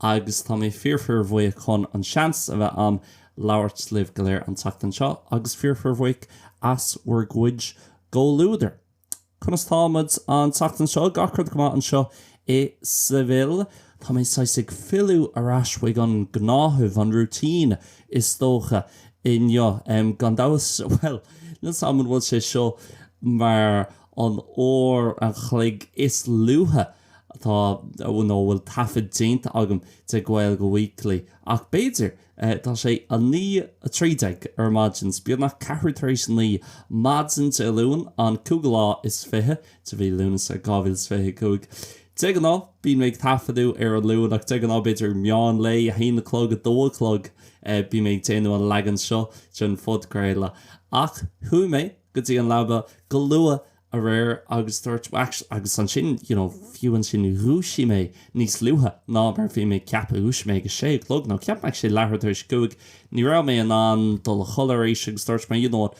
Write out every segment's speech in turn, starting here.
agus tá mé fíor-fíorbhuíoch chun an seans a bheith a'm labhairt libh go léir an tseachtain seo agus fíor-fíorbhuíoch as bhur gcuid gcomhluadar. Conas táimid an tseachtain seo? Gach rud go maith anseo i Seville. Tá mé saghas ag filleadh ar ais chuig an gnáthamh, an routine is dócha, inniu. Gan dabht, bhuel, níl 's a'm an bhfuil sé seo mar an uair an chloig is luaithe Tá, a bhfuil taifead déanta agam de Gaeilge Weekly, ach b'fhéidir, tá sé 9:13 ar maidin, beagnach ceathrú tar éis a naoi, maidin Dé Luain, an cúigiú lá is fiche de mhí Lúnasa, 2025. De ghnáth, bíonn mé ag taifeadadh ar an Luan, ach de ghnáth, b'fhéidir meán lae, a haon a chlog, a dó a chlog, bím ag déanamh an leagan seo den phodchraoladh. Ach chuaigh mé go dtí an leaba go luath aréir agus dúirt, agus ansin, you know, fiú ansin dhúisigh mé níos luaithe ná mar a bhí mé ag ceapadh, dhúisigh mé ag a sé a chlog nó ceapaim ag leathuair tar éis a cúig, ní raibh mé in ann dul a chodladh arís agus dúirt mé, you know what,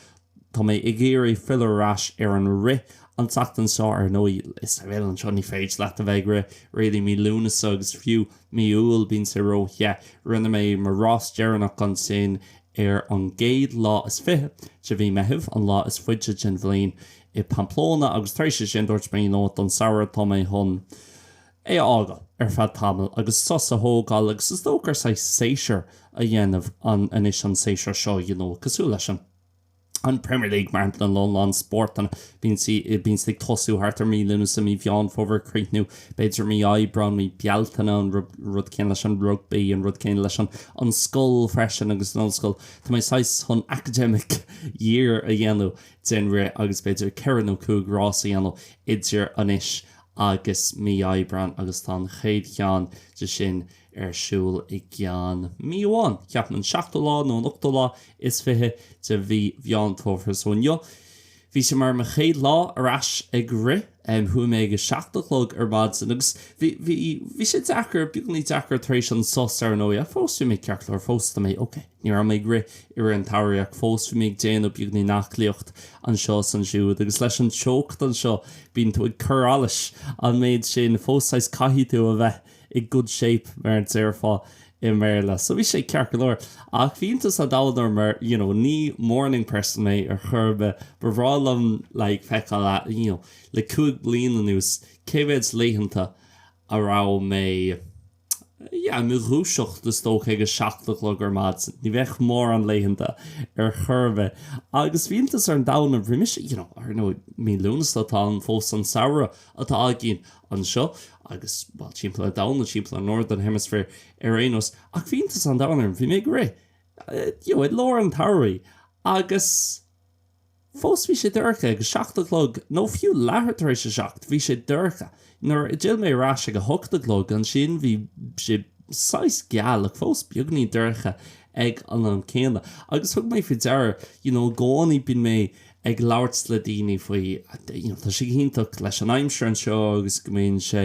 tá mé ag iarraidh filleadh ar ais ar an rith an tseachtain seo, ar ndóigh i Seville anseo ní féidir leat a bheith ag rith really mí Lúnasa agus fiú mí Iúil bíonn sé róthe, rinne mé mo rás deireanach ansin i. Ar an gcéad lá is fiche de mhí Meitheamh, an lá is faide den bhliain, i Pamplona, agus tar éis é sin dúirt mé nó don samhradh tá mé chun é a fhágáil ar feadh tamaill agus sos a thógáil agus is dócha gur saghas séasúr a dhéanamh anois an séasúr seo, you know, cosúil leis an. an Premier League mar shampla, nó a lán spóirteanna, bíonn siad ag tosú thart ar mí Lúnasa, mí Mheán Fómhair ag críochnú b'fhéidir mí Aibreán, mí Bealtaine, an rud céanna leis an rugbaí, an rud céanna leis an an scoil freisin agus an ollscoil, tá mé saghas chun academic year a dhéanamh den rith agus b'fhéidir ceithre nó cúig rás a dhéanamh idir anois agus mí Aibreán agus tá an chéad cheann díobh sin ar siúl i gceann mí amháin, ceapaim, an seachtú lá nó an ochtú lá is fiche de mhí Mheán Fómhair. So inniu, bhí sé mar mo chéad lá ar ais ag rith. Chuaigh mé ag a seacht a chlog ar maidin agus bhí, bhí, bhí sé deacair, beagáinín deacair tar éis an sos, ar ndóigh, ach fós bhí mé ceart go leor, fós tá mé ok. Ní raibh mé ag rith i rith an tsamhraidh ach fós bhí mé ag déanamh beagáinín aclaíocht anseo is ansiúd agus leis an teocht anseo, bíonn tú ag cur allais an méid sin, fós saghas, caithfidh tú a bheith. i good shape, mar a déarfá i mBéarla. So bhí sé ceart go leor. Ach bhí iontas an domhain orm mar, you know, ní morning person mé ar chor ar bith. Ba bhreá liom, like, feiceáil a, you know, le cúig bliana anuas, cé mhéid laethanta a raibh mé, yeah, i mo dhúiseacht, is dócha, ag a seacht a chlog ar maidin. Ní bheadh mórán laethanta ar chor ar bith. Agus bhí iontas an domhain orm, ar ndóigh, mí Lúnasa, atá ann fós, an samhradh, atá againn anseo agus, bhuel, timpeall an domhain nó timpeall an Northern Hemisphere ar aon nós. Ach bhí iontas an domhain orm, bhí mé ag rith, you know, i lár an tsamhraidh agus fós bhí sé dorcha ag a seacht a chlog nó fiú leathuair tar éis a seacht, bhí sé dorcha. Nuair a d'fhill mé ar ais ag a hocht a chlog, ansin bhí sé saghas geal ach fós beagainín dorcha ag an am céanna. Agus thug mé faoi deara, you know, i gcónaí bíonn mé ag labhairt le daoine faoi, you know, tá sé go hiontach leis an aimsir anseo agus go mbíonn sé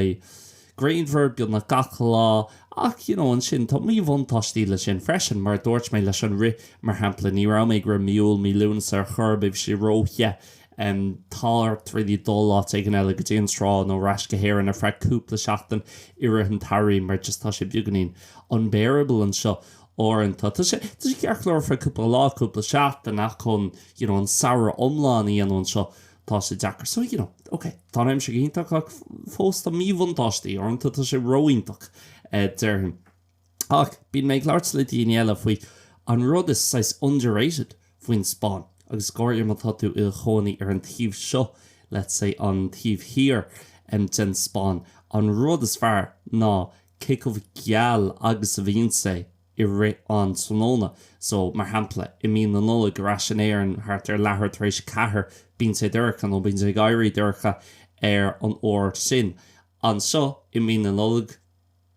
grianmhar beagnach gach lá ach, you know, ansin tá míbhuntáistí leis sin freisin. Mar a dúirt mé leis an rith, mar shampla, ní raibh mé ag rith mí Iúil, mí Lúnasa ar chor ar bith, tá sé ró-the. em, tá ort really dul áit éigin eile, go dtí an trá nó ar ais go hÉirinn ar feadh cúpla seachtain i rith an tsamhraidh mar just tá sé beagainín unbearable anseo. Uaireanta, tá sé ceart go leor ar feadh cúpla lá, cúpla seachtain, ach chun, you know, an samhradh iomlán a dhéanamh anseo, tá sé deacair. So, you know, ok, tá an aimsir go hiontach ach fós tá míbhuntáistí, uaireanta tá sé ró-iontach, déarfainn. Ach bíonn mé ag labhairt le daoine eile faoi an rud is saghas underrated faoin Spáinn, agus go háirithe má tá tú i do chónaí ar an taobh seo, let's say, an taobh thiar den Spáinn, an rud is fearr ná, cé chomh geal agus a bhíonn sé i rith an tráthnóna. So, mar shampla, i mí na Nollag, ar ais in Éirinn thart ar leathuair tar éis a ceathair, bíonn sé dorcha, nó bíonn sé ag éirí dorcha ar an uair sin. Anseo, i mí na Nollag,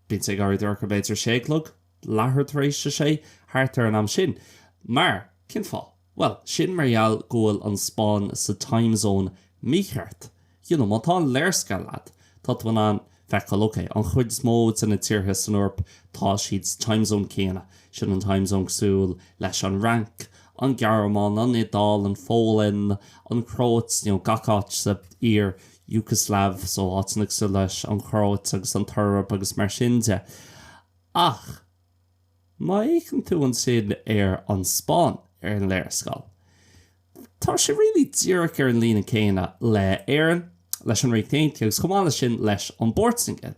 bíonn sé ag éirí dorcha, b'fhéidir, a sé a chlog, leathuair tar éis a sé, thart ar an am sin. Mar, cén fáth? Bhuel, sin mar gheall go bhfuil an Spáinn sa time zone mícheart. You know, má tá an léarscáil leat, tá tú in ann feiceáil, ok, an chuid is mó de na tíortha san Eoraip, tá siad sa time zone céanna. Sin an time zone cosúil leis an Fhrainc, an Ghearmáin, an Iodáil, an Pholainn, an Chróit, you know, gach áit sa iar-Iúgslaiv, so áiteanna cosúil leis an Chróit agus an tSeirb agus mar sin de. Ach. Má fheiceann tú ansin ar an Spáinn ar an léarscáil, tá sé really díreach ar an líne céanna le Éirinn, leis an Ríocht Aontaithe agus chomh maith leis sin leis an bPortaingéil.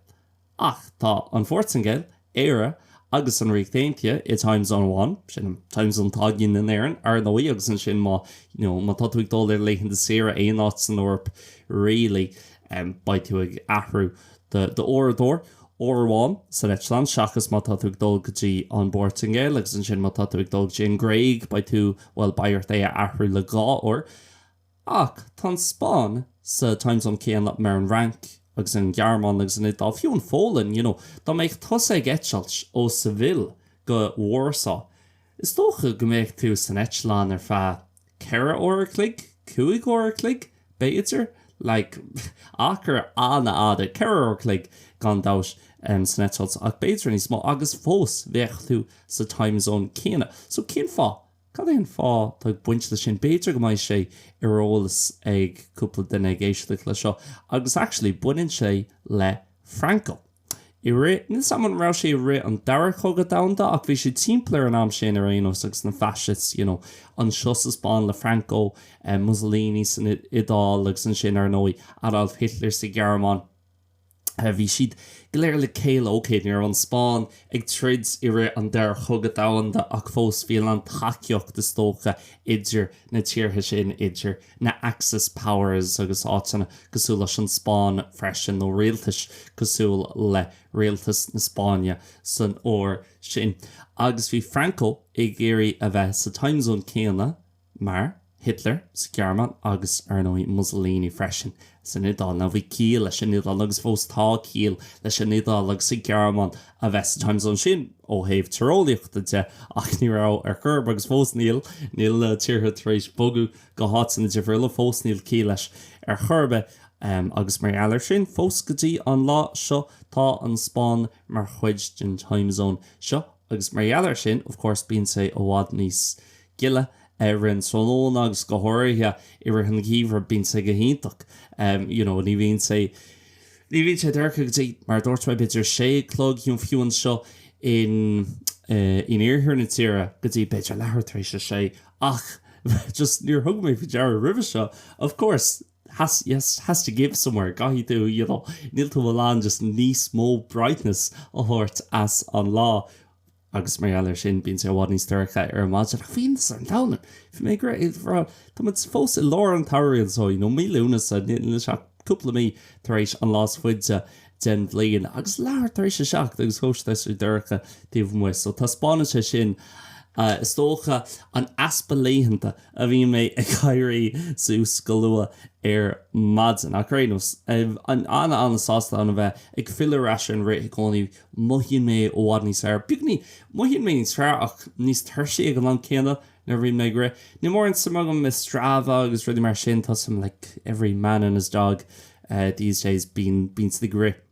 Ach tá an Phortaingéil, Éire agus an Ríocht Aontaithe i Time Zone amháin, sin an Time Zone atá againn in Éirinn ar ndóigh agus ansin má, you know, má tá tú ag dul ar laethanta saoire aon áit san Eoraip really, em, beidh tú ag athrú. d'uaireadóir uair amháin san eitleán seachas má tá tú ag dul go dtí an bPortaingéil agus ansin má tá tú ag dul go dtí an Ghréig beidh tú, bhuel, beidh ort é a athrú le dhá uair. Ach tá an Spáinn sa time zone céanna mar an Fhrainc agus an Ghearmáin agus an Iodáil, fiú an Pholainn, you know. Dá mbeadh tusa ag eitilt ó Seville go Warsaw, is dócha go mbeadh tú san eitleán ar feadh, ceithre uair a chloig, cúig uair a chloig, b'fhéidir, like, achar an-fhada, ceithre uair a chloig, gan dabht, san eitilt, ach b'fhéidir níos mó, agus fós, bheadh tú sa time zone céanna. So, cén fáth? Cad é an fáth atá ag baint leis sin? B'fhéidir go mbeidh sé ar eolas ag cúpla duine ag éisteacht leis seo, agus actually, baineann sé le Franco. i rith, níl 's a'm an raibh sé i rith an Dara Cogadh Domhanda ach bhí sé timpeall ar an am sin ar aon nós agus na Fascists, you know, anseo sa Spáinn le Franco, Mussolini san Iodáil agus ansin ar ndóigh Adolf Hitler sa Ghearmáin, bhí siad go léir le chéile, ok, ní raibh an Spáinn ag troid i rith an Dara Cogadh Domhanda ach fós bhí a lán tacaíocht is dócha idir na tíortha sin idir na Axis powers agus áiteanna cosúil leis an Spáinn freisin, nó rialtais cosúil le rialtas na Spáinne san uair sin. Agus bhí Franco ag iarraidh a bheith sa time zone céanna mar Hitler sa Ghearmáin agus, ar ndóigh, Mussolini freisin San Iodáil, nó bhí ciall leis an Iodáil, agus fós tá ciall leis an Iodáil agus an Ghearmáin a bheith sa time zone sin ó thaobh tíreolaíochta de, ach ní raibh ar chor ar bith, agus fós níl. Níl na tíortha tar éis bogadh go háiteanna difriúla, fós níl ciall leis ar chor ar bith, agus mar gheall air sin, fós go dtí an lá seo, tá an Spáinn mar chuid den time zone seo, agus mar gheall air sin, of course, bíonn sé i bhfad níos. gile ar an tráthnóna agus go háirithe i rith an gheimhridh bíonn sé go hiontach you know ní bhíonn sé ní bhíonn sé dorcha go dtí mar a dúirt mé b'fhéidir a sé a chlog you know fiú anseo in in iarthar na tíre go dtí b'fhéidir leathuair tar éis a sé ach just níor thug mé faoi deara roimhe seo of course has to give somewhere caithfidh tú you know níl tú in ann just níos mó brightness a thabhairt as an lá agus mar gheall ar sin, bíonn sé i bhfad níos dorcha ar maidin. Ach bíonn, ar an Domhnach, bhí mé ag rá, tá muid fós i lár an tsamhraidh anseo, you know, mí Lúnasa, níl sé ach cúpla mí tar éis an lá is faide den bhliain, agus leathuair tar éis a seacht, agus fós tá sé dorcha taobh amuigh, so taispeánann sé sin, is dócha, an easpa laethanta a bhíonn mé ag éirí suas go luath ar maidin. Ach ar aon nós, an-an-sásta a bheith ag filleadh ar ais ar an rith i gcónaí, Mothaíonn mé i bhfad níos fearr. Beagnach i gcónaí mothaíonn mé níos fearr, ach níos tuirsí ag an am céanna nuair a bhíonn mé ag rith. Níl mórán suim agam i Strava agus rudaí mar sin, tá suim like every man and his dog these days bíonn bíonn siad ag rith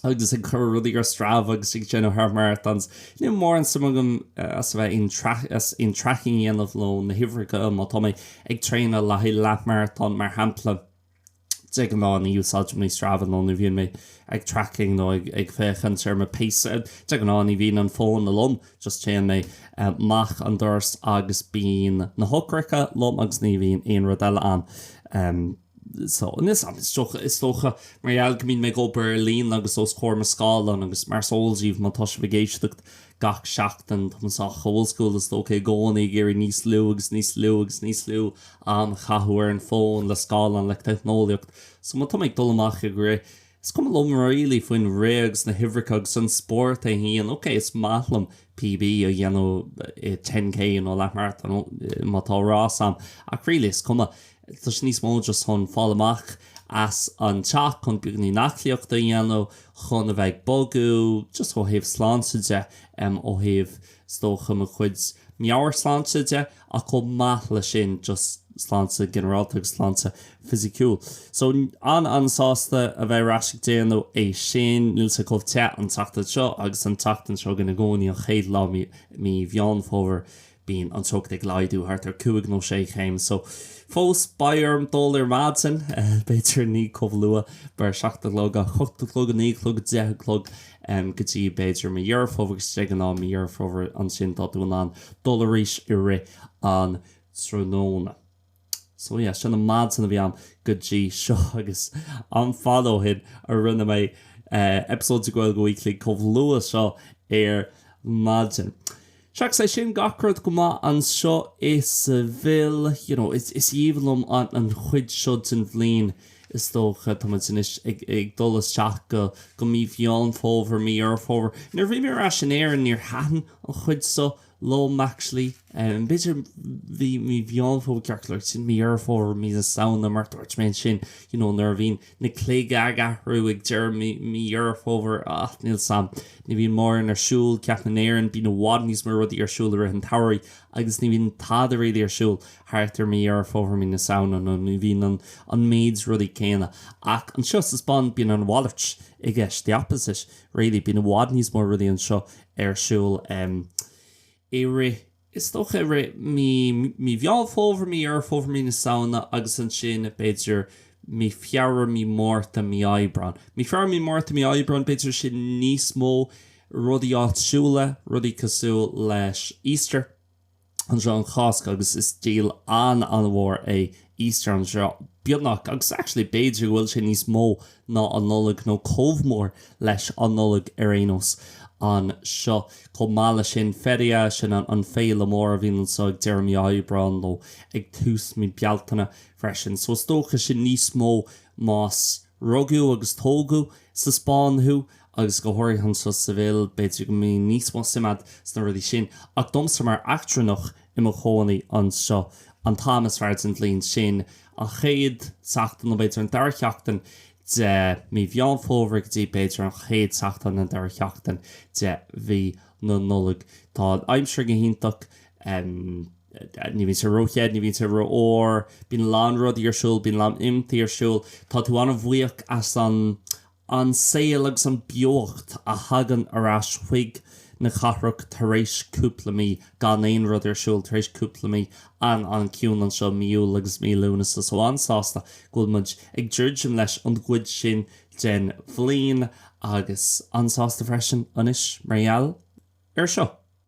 agus ag cur rudaí ar Strava agus ag déanamh half marathons. Níl mórán suim agamsa a bheith an tracking a dhéanamh nó na huimhreacha má tá mé ag traenáil le haghaidh leath marathon mar shampla. de ghnáth ní úsáidim Strava nó ní bhíonn mé ag tracking nó ag féachaint ar mo pace de ghnáth ní bhíonn an fón liom just téann mé amach an doras agus bíonn na heochracha liom agus ní bhíonn aon rud eile ann so is dócha is dócha mar gheall go mbíonn mé ag obair ar líne agus os comhair mo scáileán agus mar is eol daoibh má tá sibh ag éisteacht Gach seachtain, táim sách old school is dócha i gcónaí ag iarraidh níos lú agus níos lú agus níos lú am a chaitheamh ar an bhfón, le scáileáin, le teicneolaíocht. So má tá mé ag dul amach ag rith, is cuma liom really faoin rith agus na huimhreacha agus an spórt é fhéin. Ok, is maith liom PB a dhéanamh i ten K nó leath-marathon má tá rás ann, ach really is cuma. agus tá sé níos mó just chun fáil amach as an teach, chun beagáinín aclaíochta a dhéanamh, chun a bheith ag bogadh, just ó thaobh sláinte de, ó thaobh is dócha mo chuid meabhairshláinte de, ach chomh maith le sin just sláinte ginearálta agus sláinte fisiciúil. So, an-an-sásta a bheith ar ais ag déanamh é sin. Níl sé chomh te an tseachtain seo agus an tseachtain seo chugainn i gcónaí, an chéad lá mí Mheán Fómhair, Bíonn an teocht ag laghdú thart ar cúig nó sé chéim so fós beidh orm dul ar maidin, b'fhéidir ní chomh luath mar seacht a chlog ach ocht a chlog, naoi a chlog, deich a chlog go dtí b'fhéidir mí Dheireadh Fómhair agus de ghnáth mí Dheireadh Fómhair ansin táim in ann dul arís i rith an tráthnóna. So yeah, sin an mhaidin a bhí agam go dtí seo agus an-fhada ó shin a rinne mé eipeasóid de Gaeilge Weekly chomh luath seo ar maidin. Seachas é sin, gach rud go maith anseo i Seville. You know, is aoibhinn liom an chuid seo den bhliain is dócha. Tá muid anois ag dul isteach go mí Mheán Fómhair, mí Dheireadh Fómhair. Nuair a bhí mé ar ais in Éirinn níor thaitin an chuid seo liom actually, b'fhéidir bhí mí Mheán Fómhair ceart go leor, sin mí Dheireadh Fómhair, mí na Samhna mar dúirt mé ansin, you know, nuair a bhíonn na cloig ag athrú ag deireadh mí, mí Dheireadh Fómhair, ach níl 's agam, ní bhíonn mórán ar siúl, ceapaim in Éirinn, bíonn i bhfad níos mó rudaí ar siúl i rith an tsamhraidh agus ní bhíonn tada really ar siúl thart ar mí Dheireadh Fómhair, mí na Samhna, nó ní bhíonn an, an méid rudaí céanna. Ach anseo sa Spáinn bíonn an mhalairt i gceist, the opposite. really, bíonn i bhfad níos mó rudaí anseo ar siúl em i rith, is dócha i rith mí, mí Mheán Fómhair, mí Dheireadh Fómhair, mí na Samhna agus ansin b'fhéidir mí Feabhra, mí Márta, mí Aibreán. Mí Feabhra, mí Márta, mí Aibreán b'fhéidir sin níos mó rudaí áitiúla, rudaí cosúil leis Easter. anseo an Cháisc agus is díol an-an-mhór é Easter anseo, beagnach, agus actually b'fhéidir go bhfuil sé níos mó ná an Nollaig nó chomh mór leis an Nollaig ar aon nós anseo. Chomh maith le sin, Feria, sin an an féile mór a bhíonn anseo ag deireadh mí Aibreáin nó ag tús mí Bealtaine freisin. So is dócha sin níos mó más rugadh agus tógadh sa Spáinn thú, agus go háirithe anseo sa Sevilla, b'fhéidir go mbíonn níos mó suime agat sna rudaí sin, ach domsa mar eachtrannach i mo chónaí anseo, an t-am is fearr den bhliain, sin an chéad tseachtain, nó b'fhéidir an dara sheachtain, de mí Mheán Fómhair go dtí, b'fhéidir, an chéad tseachtain, an dara sheachtain, de mhí na Nollag. Tá an aimsir go hiontach, ní bhíonn sé ró-the, ní bhíonn sé ró-fhuar, bíonn a lán rudaí ar siúl, bíonn a lán imeachtaí ar siúl, tá tú an-bhuíoch as an. an saol agus an beocht a thagann ar ais chuig na cathrach tar éis cúpla mí gan aon rud ar siúl, tar éis cúpla mí an-an-chiúin anseo mí Iúil agus mí Lúnasa. So an-sásta go bhfuil muid ag druidim leis an gcuid sin den bhliain agus an-sásta freisin anois mar gheall air seo.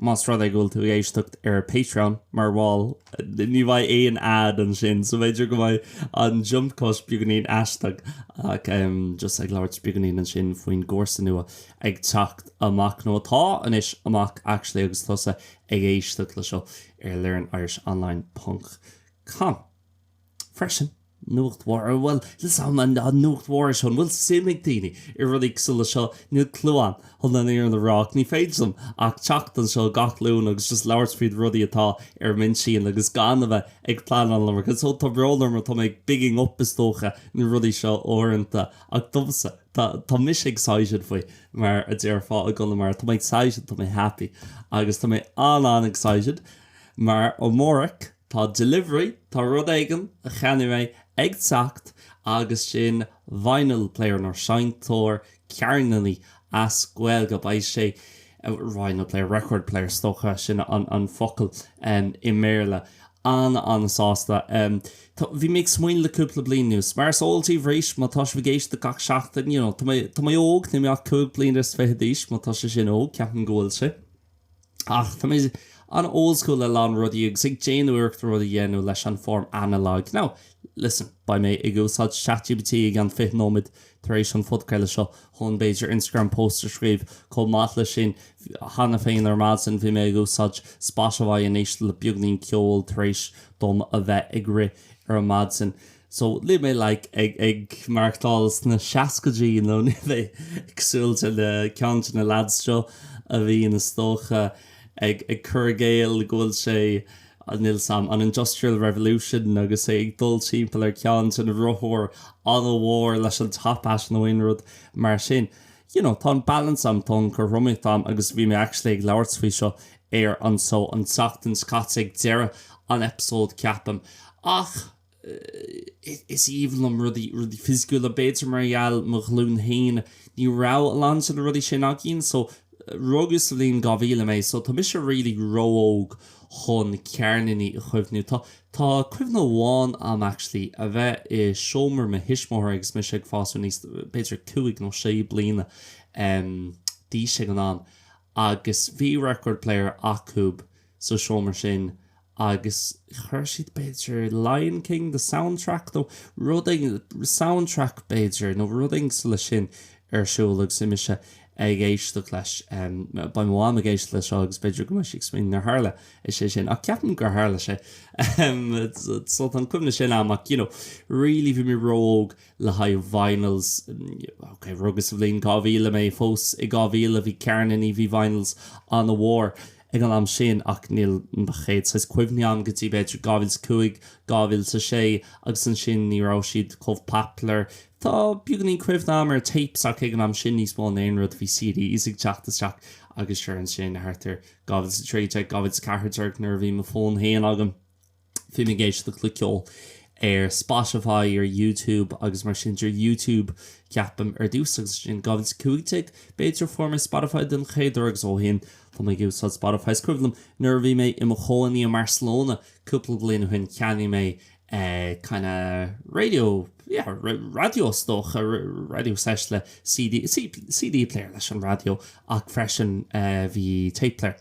Más rud é go bhfuil tú ag éisteacht ar Patreon mar bhall, ní bheidh aon ad ansin, so b'fhéidir go mbeidh an jump cut beagáinín aisteach, ach just ag labhairt beagáinín ansin faoin gcúrsa nua ag teacht amach, nó atá anois amach actually agus tusa ag éisteacht le seo ar learn-irish-online ponc com. Freisin, nuacht mhór, bhuel, is é an nuacht mhór é seo, an bhfuil suim ag daoine i rudaí cosúil leis seo? Níl clue agam, chun an fhírinne a rá, ach ní féidir liom ach teacht anseo gach Luan agus just labhairt faoi na rudaí atá ar m'intinn agus gan a bheith ag pleanáil liom, agus ó tá brón orm, tá mé ag bigging up, is dócha, na rudaí seo uaireanta, ach domsa, tá, tá mise excited faoi, mar a déarfá i gConamara, tá mé excited, tá mé happy, agus tá mé an-an-excited, mar amárach, Tá delivery, tá rud éigin a cheannaigh mé ag teacht agus sin vinyl player nó seinnteoir ceirníní as Gaeilge. Beidh sé, vinyl player, record player is dócha, sin an focal i mBéarla. An-an-sásta. Bhí mé ag smaoineamh le cúpla bliain anuas, mar is eol daoibh arís má tá sibh ag éisteacht gach seachtain, you know, tá mé óg, níl mé ach cúig bliana is fiche d'aois, má tá sé sin óg, ceapaim go bhfuil sé. Ach tá mé an-oldschool le a lán rudaí agus ag déanamh iarracht rudaí a dhéanamh leis an form analog. Now, listen, beidh mé ag úsáid chatgpt i gceann 20 nóiméad tar éis an phodchraoladh seo chun b'fhéidir Instagram post a scríobh. Chomh maith le sin, cheana féin ar maidin bhí mé ag úsáid Spotify ag éisteacht le beagáinín ceoil tar éis dom a bheith ag rith ar an maidin. So, luaigh mé like ag, ag maireachtáil sna seascaidí you know, níl mé ag siúl le ceann de na lads seo a bhíonn is dócha ag, ag cur i gcéill go bhfuil sé, níl 's a'm, an Industrial Revolution agus é ag dul timpeall ar ceann de na rothair ana-mhór leis an top hat nó aon rud mar sin. You know, tá an balance a'm, tá an cothromaíocht a'm agus bhí mé actually ag labhairt faoi seo ar an seó an tseachtain seo caite ag deireadh an episode ceapaim ach, is aoibhinn liom rudaí rudaí fisiciúla b'fhéidir mar gheall mo ghlúin féin ní raibh a lán de na rudaí sin againn so rugadh sa bhliain 2000 mé so tá mise really ró-óg chun cearnaí a chuimhniú tá tá cuimhne amháin a'm actually a bheith i seomra mo thuismitheoirí agus mise ag fás aníos b'fhéidir cúig nó sé bliana d'aois ag an am agus bhí record player acub sa seomra sin agus chuir siad b'fhéidir Lion King, The Soundtrack nó rud éigin, Soundtrack b'fhéidir nó rud éigin sula sin ar siúl agus mise ag éisteacht leis, beidh mo mham ag éisteacht leis seo agus b'fhéidir go mbeidh sí ag smaoineamh nár tharla sé sin ach ceapaim gur tharla sé so tá an cuimhne sin a'm ach you know really bhí mé ró-óg le haghaidh vinyls, ok rugadh sa bhliain 2000 mé, fós i 2000 bhí cearnaí, bhí vinyls ana mhór. ag an am sin ach níl mo chéad saghas cuimhní a'm go dtí b'fhéidir 2005, 2006 agus ansin ní raibh siad chomh popular. Tá beagáinín cuimhne agam ar tapes ach ag an am sin níos mó ná aon rud a bhí CDs ag teacht isteach agus sure ansin thart ar 2013, 2014 nuair a bhí mo fón féin agam. Bhí mé ag éisteacht le ceol, ceol ar Spotify, ar YouTube agus mar sin de, ar YouTube ceapaim ar dtús agus ansin 2015 b'fhéidir fuair mé Spotify den chéad uair agus ó shin tá mé ag úsáid Spotify. Is cuimhin liom nuair a bhí mé i mo chónaí i mBarcelona cúpla bliain ó shin cheannaigh mé kinda radio, yeah, raidió is dócha, radio set le CD, CD player leis an raidió ach freisin bhí tape player.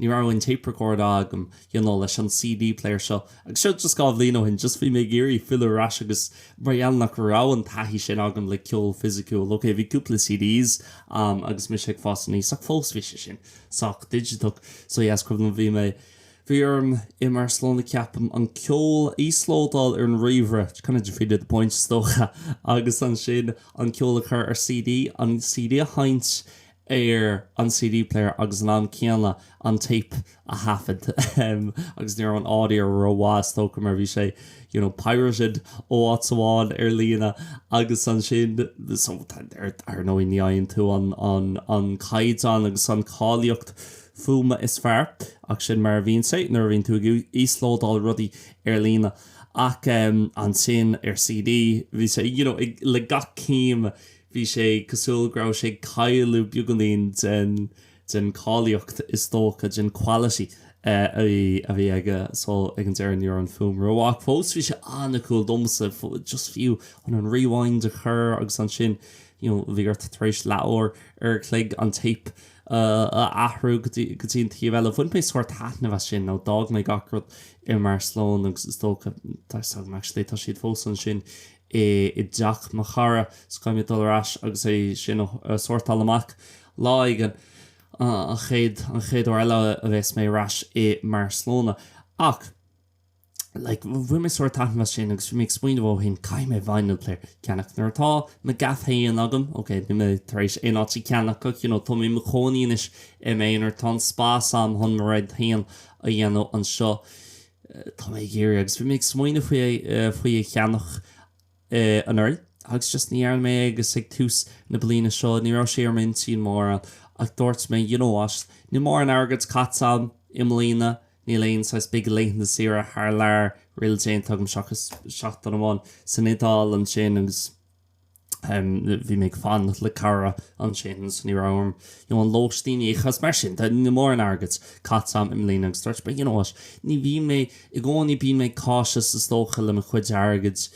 Ní raibh aon tape record agam, you know, leis an CD player seo, agus seo just dhá bhliain ó shin, just bhí mé ag iarraidh filleadh ar ais agus mar gheall nach raibh an taithí sin agam le ceol fisiciúil, ok, bhí cúpla CDs a'm agus mise ag fás aníos ach fós bhí sé sin sách digiteach, so yeah, is cuimhin liom bhí mé, bhí orm i mBarcelona ceapaim, an ceol a íoslódáil ar an ríomhaire, which kind of defeated the point is dócha, agus ansin an ceol a chur ar CD, an CD a sheinnt ar an CD player agus ag an am céanna an tape a thaifead agus ní raibh an audio rómhaith is dócha mar bhí sé you know pirated ó áit amháin ar líne agus ansin so ar ndóigh ní fhaigheann tú an an an caighdeán agus an cáilíocht fuaime is fearr ach sin mar a bhíonn sé nuair a bhíonn tú ag íoslódáil rudaí ar líne ach ansin ar CD bhí sé you know ag le gach céim Bhí sé cosúil go raibh sé ag cailleadh beagáinín den, den cháilíocht is dócha, den quality a bhí, a bhí aige. So ag an deireadh ní raibh an fhuaim rómhaith ach fós bhí sé an-cool domsa, just fiú chun an rewind a chur agus ansin you know bhí ort tar éis leathuair an chloig an tape a athrú go dtí, go dtí an taobh eile. Bhain mé sórt taitneamh as sin nó d'fhág mé gach rud i mBarcelona agus is dócha, tá, actually tá siad fós ansin i dteach mo chara 's caithfidh mé dul ar ais agus é sin a shórtáil amach lá éigin, an chéad, an chéad uair eile a bheas mé ar ais i mBarcelona. Ach, like, bhain mé sórt taitneamh as sin agus bhí mé ag smaoineamh, ó shin, caithfidh mé vinyl player a cheannach. Nuair atá mo ghaf féin agam, ok, níl mé tar éis aon áit a cheannach ach, you know, tá mé i mo chónaí anois i m'aonar, tá an spás agam chun mo rud féin a dhéanamh anseo. Tá mé ag iarraidh, agus bhí mé ag smaoineamh faoi, faoi a cheannach anuraidh agus just ní dhearna mé é agus ag tús na bliana seo ní raibh sé ar m'intinn mórán ach dúirt mé you know what, níl mórán airgid caite agam i mbliana, níl aon saghas big laethanta saoire thar lear really déanta agam seachas seachtain amháin san Iodáil ansin agus. bhí mé ag fanacht le cara ansin so ní raibh orm you know an lóistín a íoc agus mar sin de níl mórán airgid caite agam i mbliana agus dúirt mé you know what ní bhíonn mé i gcónaí bíonn mé cautious is dócha le mo chuid airgid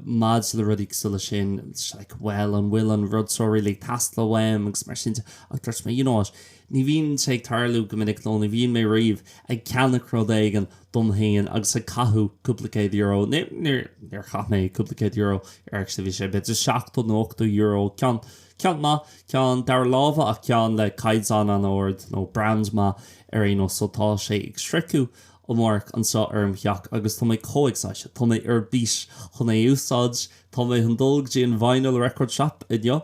maidir le rudaí cosúil leis sin like well an bhfuil an rud seo really ag teastáil uaim agus mar sin de ach dúirt mé you know what Ní bhíonn sé ag tarlú go minic nó ní bhíonn mé riamh ag ceannach rud éigin dom féin agus ag caitheamh cúpla céad euro air, níor chaith mé cúpla céad euro air actually, bhí sé b'fhéidir seachtó nó ochtó euro, ceann maith, ceann dara láimhe ach ceann le caighdeán an-ard nó brand maith ar aon nós. Só tá sé ag sroicheadh amárach anseo ar an teach agus tá mé chomh excited, tá mé ar bís chun é a úsáid, tá mé chun dul go dtí an vinyl record shop inniu.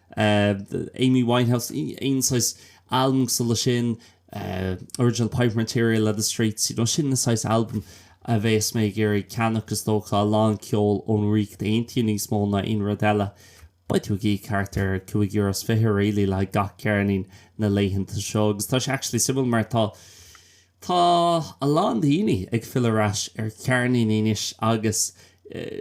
Amy Winehouse, aon saghas albam cosúil leis sin, Original Pirate Material le The Streets, you know, sin na saghas albam a bheas mé ag iarraidh a cheannach is dócha, a lán ceol ón Ríocht Aontaithe níos mó ná aon rud eile. Beidh tú ag íoc thart ar cúig euro is fiche really le haghaidh gach ceirnín na laethanta seo agus tá sé actually suimiúil mar tá, Tá a lán daoine ag filleadh ar ais ar cheirníní inniu agus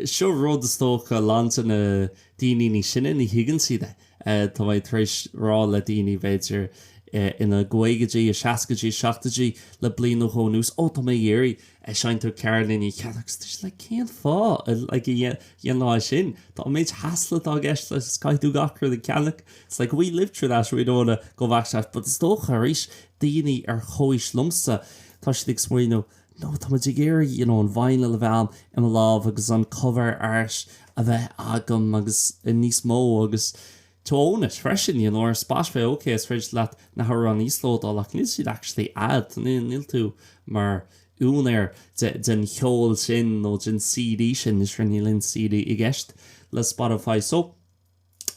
seo rud is dócha a lán de na daoine sine ní thuigeann siad é. Tá mé tar éis rá le daoine, b'fhéidir ina gcaogaidí, a seascaidí, a seachtóidí le bliain nó dhó anuas, 'Ó, tá mé ag iarraidh seinnt ar cheirníní cheana', agus dúirt siad 'Like, cén fáth a dhéanfá é sin? Tá an méid hassle atá i gceist leis is caithfidh tú gach rud a cheannach'. It's like, we lived through that, we know that, go bhfaca, but is dócha arís, Daoine ar chomhaois liomsa, tá siad ag smaoineamh, no, tá muid ag iarraidh, you know, an vinyl a bheith i mo lámh agus an cover art a bheith agam agus níos mó agus to own it freisin, you know, Spotify, ok, is féidir leat na hamhráin a íoslódáil ach níl siad actually a'd, níl tú mar úinéir den cheol sin nó den CD sin, is rud, níl aon CD i gceist le Spotify. So.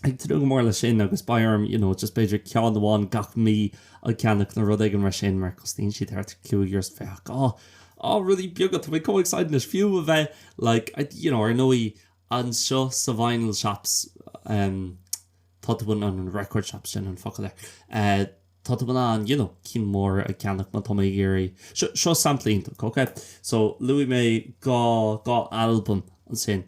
ag tnúth go mór leis sin agus beidh orm, you know, just b'fhéidir ceann amháin gach mí a cheannach nó rud éigin mar sin mar cosnaíonn siad thart ar cúig euro so bheadh, oh, oh, rudaí beaga, tá mé chomh excited anois, fiú a bheith like, I, you know, ar ndóigh anseo sa vinyl shops, em, tá tú in ann, record shops, sin an focal ar eh. tá tú in ann you know cinn mhóra a cheannach má tá mé ag iarraidh, seo, seo sampla iontach ok so luaigh mé dhá, dhá albam ansin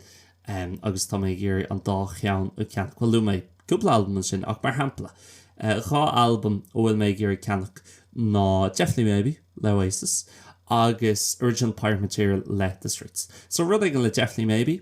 ehm agus tá mé ag iarraidh an dá cheann a cheannach, bhuel luaigh mé cúpla albam ansin ach mar shampla eh dhá albam a bhfuil mé ag iarraidh ceannach ná Definitely Maybe le Oasis agus Original Pirate Material le The Streets so rud éigin le Definitely Maybe,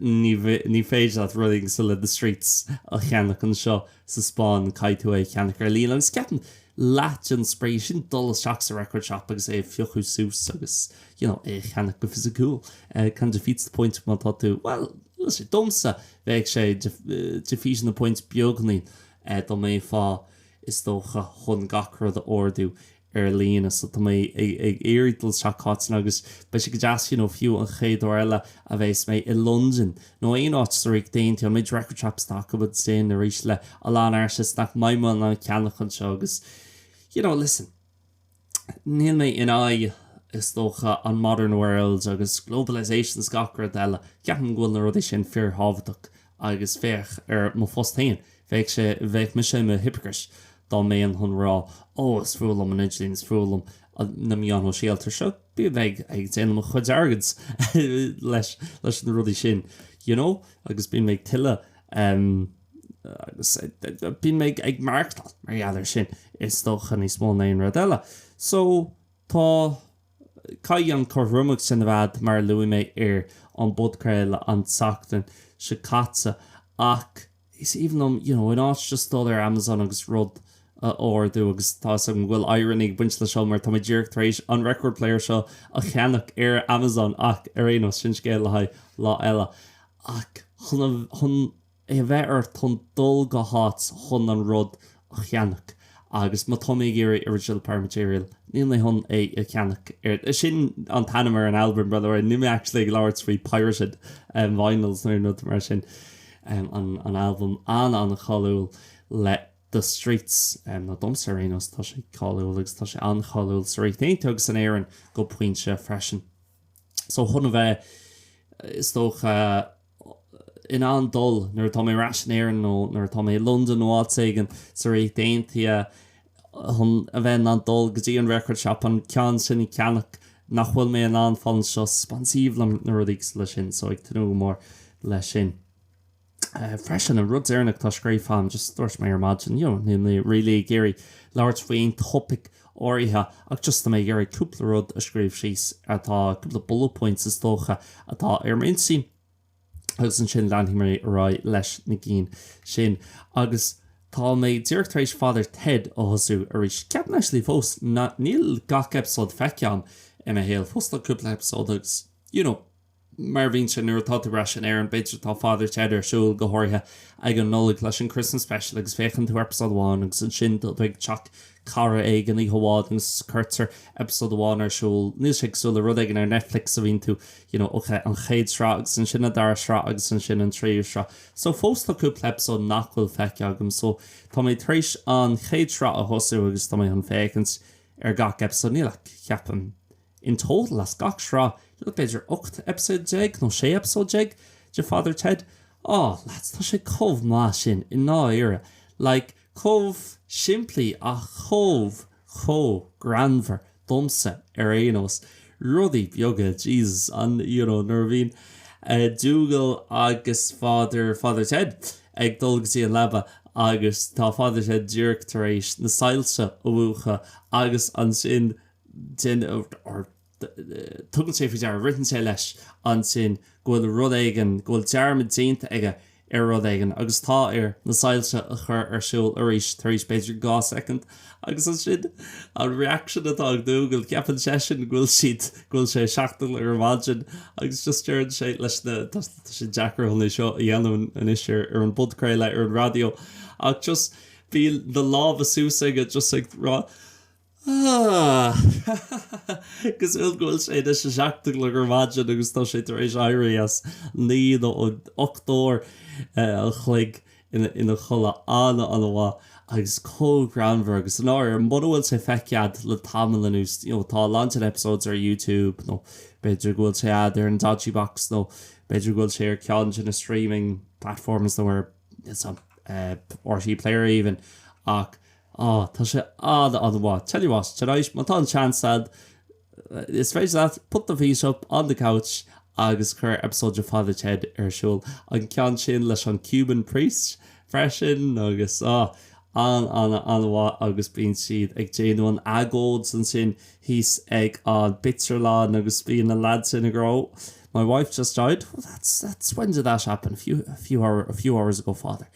Ní féidir leat rud ar bith le The Streets a cheannach anseo sa Spáinn, caithfidh tú é a cheannach ar líne. Agus ceapaim, leath den spraoi sin dul isteach sa record shop agus é a phiocadh suas agus you know, é a cheannach go fisiciúil. Kind of defeats the point má tá tú, bhuel, tá sé, domsa, bheadh sé, defeateann an point beagainín, dá mbeifeá, is dócha, chun gach rud a ordú ar líne. So tá mé ag iarraidh dul isteach ann agus beidh sé go deas you know fiú an chéad uair eile a bheas mé i Londain nó aon áit sa Ríocht Aontaithe beidh record shop stop againn ansin arís le a lán artists nach mbeidh mé in ann ceannach anseo agus you know listen níl mé in aghaidh is dócha an modern world agus globalisation is gach rud eile ceapaim go bhfuil na rudaí sin fíor thábhachtach agus féach ar mo phost féin, bheadh sé, bheadh mise i mo hypocrite dá mbeinn chun rá, ó, is fuath liom an t-idirlíon, is fuath liom na meáin shóisialta, seo, bím ag, ag déanamh mo chuid airgid leis, leis na rudaí sin, you know, agus bím ag tuilleamh, em, agus bím ag, ag maireachtáil mar gheall air sin, is dócha, níos mó ná aon rud eile. So, tá. Caithfidh an cothromacht sin a bheith, mar a luaigh mé ar an bpodchraoladh an tseachtain seo caite, ach is aoibhinn liom, you know, an áit just dul ar Amazon agus rud a ordú, agus tá 'fhios agam go bhfuil irony ag baint le seo mar tá mé díreach tar éis an record player seo a cheannach ar Amazon, ach ar aon nós, sin scéal le haghaidh lá eile. Ach chun, chun. a bheith ort dul go háit chun an rud a cheannach agus má tá mé ag iarraidh Original Pirate Material níl mé chun é a cheannach ar, sin an t-ainm ar an albam by the way, níl mé actually ag labhairt faoi pirated vinyls nó aon rud mar sin, an albam an-an-cháiliúil le The Streets nó domsa ar aon nós tá sé cáiliúil agus tá sé an-cháiliúil sa Ríocht Aontaithe agus in Éirinn go pointe freisin so chun a bheith is dócha. in ann dul nuair atá mé ar ais in Éirinn nó nuair atá mé i Londain nó áit éigin sa Ríocht Aontaithe chun a bheith in ann dul go dtí an record shop an ceann sin a cheannach nach bhfuil mé in ann fáil anseo sa Spáinn is aoibhinn liom na rudaí like sin so ag tnúth go mór le sin freisin an rud deireanach tá scríofa agam just dúirt mé ar maidin you know níl mé really ag iarraidh labhairt faoi aon topaic áirithe ach just tá mé ag iarraidh cúpla rud a scríobh síos atá, cúpla bullet points is dócha, atá ar m'intinn agus ansin leanfaidh mé ar aghaidh leis na cinn sin agus tá mé díreach tar éis Father Ted a thosú arís. Ceapaim actually fós nach, níl gach eipeasóid feicthe agam i mo shaol fós, tá cúpla eipeasóid agus you know, mar a bhíonn sé nuair atá tú ar ais in Éirinn, b'fhéidir, tá Father Ted ar siúl, go háirithe ag an Nollaig leis an Christmas Special agus féachann tú eipeasóid amháin agus ansin tú ag teach cara éigin oíche amháin agus cuirtear eipeasóid amháin ar siúl, níl sé cosúil le rud éigin ar Netflix a bhíonn tú you know ok, an chéad sraith agus ansin an dara sraith agus ansin an tríú sraith so fós tá cúpla eipeasóid nach bhfuil feicthe agam so tá mé tar éis an chéad sraith a thosú agus tá mé chun féachaint ar gach eipeasóid, níl ach ceapaim. In total as gach sraith like b'fhéidir 18 eipeasóid nó 16 eipeasóid de Father Ted, á, lads, tá sé chomh maith sin i ndáiríre, like, chomh simplí ach chomh, chomh greannmhar, domsa ar aon nós. Rudaí beaga, Jesus, an, you know, nuair a bhíonn Dougal agus Father, Father Ted ag dul go dtí an leaba agus tá Father Ted díreach tar éis na soilse a mhúchadh agus ansin, sin, tugann sé faoi deara, ritheann sé leis ansin go bhfuil rud éigin, go bhfuil dearmad déanta aige ar rud éigin agus tá air na soilse a chur ar siúl arís tar éis b'fhéidir dhá soicind agus ansin an reaction atá ag Dougal, ceapann seisean go bhfuil siad, go bhfuil sé a seacht a chlog ar maidin agus just deireann sé leis na, tá sé deacair chun é seo a dhéanamh anois ar an bpodchraoladh ar an raidió ach just bíonn na lámha suas aige just ag rá. Agus go bhfuil sé anois a seacht a chlog ar maidin agus tá sé tar éis éirí as naoi nó ocht n-uair an chloig ina chodladh an-an-mhaith agus chomh greannmhar agus an uair. Mura bhfuil sé feicthe agat le tamall anuas, you know, tá a lán den episodes ar YouTube nó b'fhéidir go bhfuil sé agat ar an dodgy box nó b'fhéidir go bhfuil sé ar cheann de na streaming platforms nó ar RTÉ Player even ach, oh tá sé an-an-mhaith tell you what tonight má tá an chance a'd is féidir leat put the feet up on the couch agus cuir episode de Father Ted ar siúl an ceann sin leis an Cuban priest freisin agus oh an-an-an-mhaith agus bíonn siad ag déanamh an agóid ansin thíos ag an bpictiúrlann agus bíonn an lad sin ag rá my wife just died that's when did that happen a few hours ago father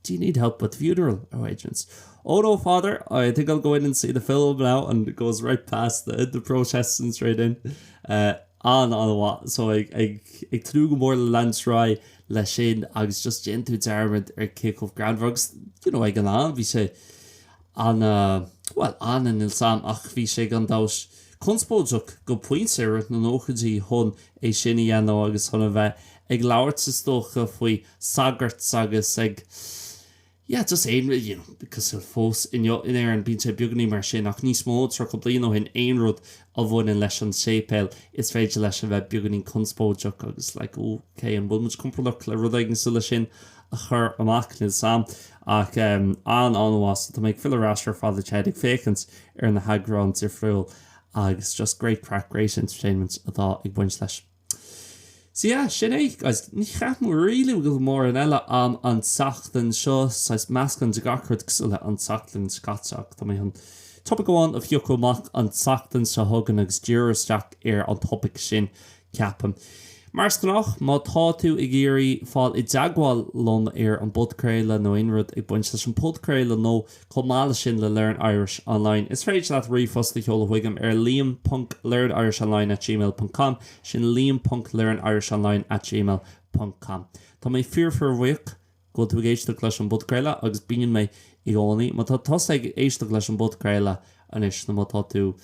Do you need help with the funeral arrangements? Oh no, Father, I think I'll go in and see the film now and goes right past the the protests and straight in. An-an-mhaith. So ag ag ag tnúth go mór le leanúint ar aghaidh leis sin agus just déanann tú dearmad ar cé chomh greannmhar agus you know ag an am bhí sé an-, bhuel, an- níl 's a'm ach bhí sé gan amhras conspóideach go pointe i rith na nóchaidí chun é sin a dhéanamh agus chun a bheith ag labhairt is dócha faoi sagairt agus ag yeah just aon rud you know cosúil fós inniu in Éirinn bíonn sé beagainín mar sin ach níos mó tríocha bliain ó shin aon rud a bhaineann leis an séipéal is féidir leis a bheith beagainín conspóideach agus like oh okay an bhfuil muid compordach le rud éigin cosúil leis sin a chur amach níl 's a'm. Ach an- an-mhaith. Tá mé ag filleadh ar ais ar Father Ted ag féachaint ar na heagráin difriúil agus just great craic, great entertainment atá ag baint leis. So yeah, sin é. Guys, ní cheapaim really go bhfuil mórán eile ann an tseachtain seo, saghas meascán de gach rud cosúil le an tseachtain seo caite ach tá mé chun topaic amháin a phiocadh amach an tseachtain seo chugainn agus díriú isteach ar an topaic sin Ceapaim. Mar is gnách, má tá tú ag iarraidh fáil i dteagmháil liom ar an bpodchraoladh nó aon rud ag baint leis an bpodchraoladh nó chomh maith leis sin le Learn Irish Online, is féidir leat ríomhphost a sheoladh chuigam ar liam.learnirishonline@gmail.com, sin liam.learnirishonline@gmail.com. Tá mé fíor-fíorbhuíoch. Go bhfuil tú ag éisteacht leis an bpodchraoladh, agus bíonn mé i gcónaí, má tá tusa ag éisteacht leis an bpodchraoladh anois, nó má tá tú,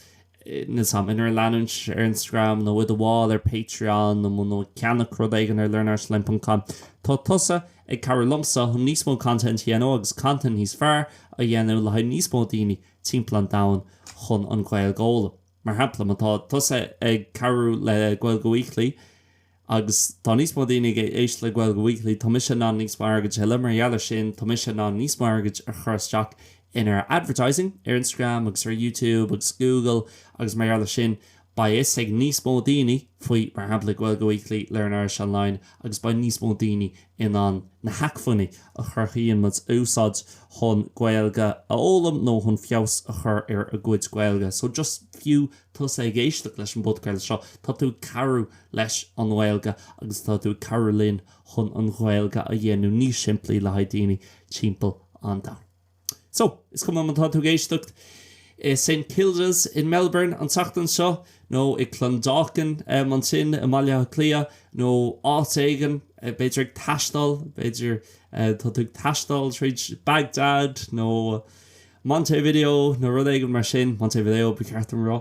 níl 's agam, in ar leanúint ar Instagram, nó i do bhall ar Patreon, nó nó ag ceannach rud éigin ar learnirishonline.com, tá tusa ag cabhrú liomsa chun níos mó content a dhéanamh, agus content níos fearr a dhéanamh le haghaidh níos mó daoine timpeall an domhain chun an Ghaeilg a fhoghlaim. Mar shampla, má tá tusa ag cabhrú le Gaeilge Weekly agus tá níos mó daoine ag éisteacht le Gaeilge Weekly, tá mise in ann níos mó airgid a thuilleamh. Mar gheall air sin, tá mise in ann níos mó airgid a chur isteach in our advertising ar Instagram agus ar YouTube agus Google agus mar gheall air sin, beidh fhios ag níos mó daoine faoi, mar shampla, Gaeilge Weekly Learn Irish Online agus beidh níos mó daoine in ann na hacmhainní a chruthaíonn muid a úsáid chun Gaeilge a fhoghlaim nó chun feabhas a chur ar a gcuid Gaeilge. So just fiú tusa ag éisteacht leis an bpodcraoladh seo, tá tú ag cabhrú leis an nGaeilge agus tá tú ag cabhrú linn chun an Ghaeilge a dhéanamh níos simplí le haghaidh daoine timpeall an domhain. So, is cuma má tá tú ag éisteacht i Saint Kilda's in Melbourne an tseachtain seo, nó i Clondalkin ansin i mBaile Átha Cliath, nó áit éigin, b'fhéidir ag taisteal, b'fhéidir tá tú ag taisteal tríd Baghdad nó Montevideo nó rud éigin mar sin, Montevideo ba cheart dom a rá.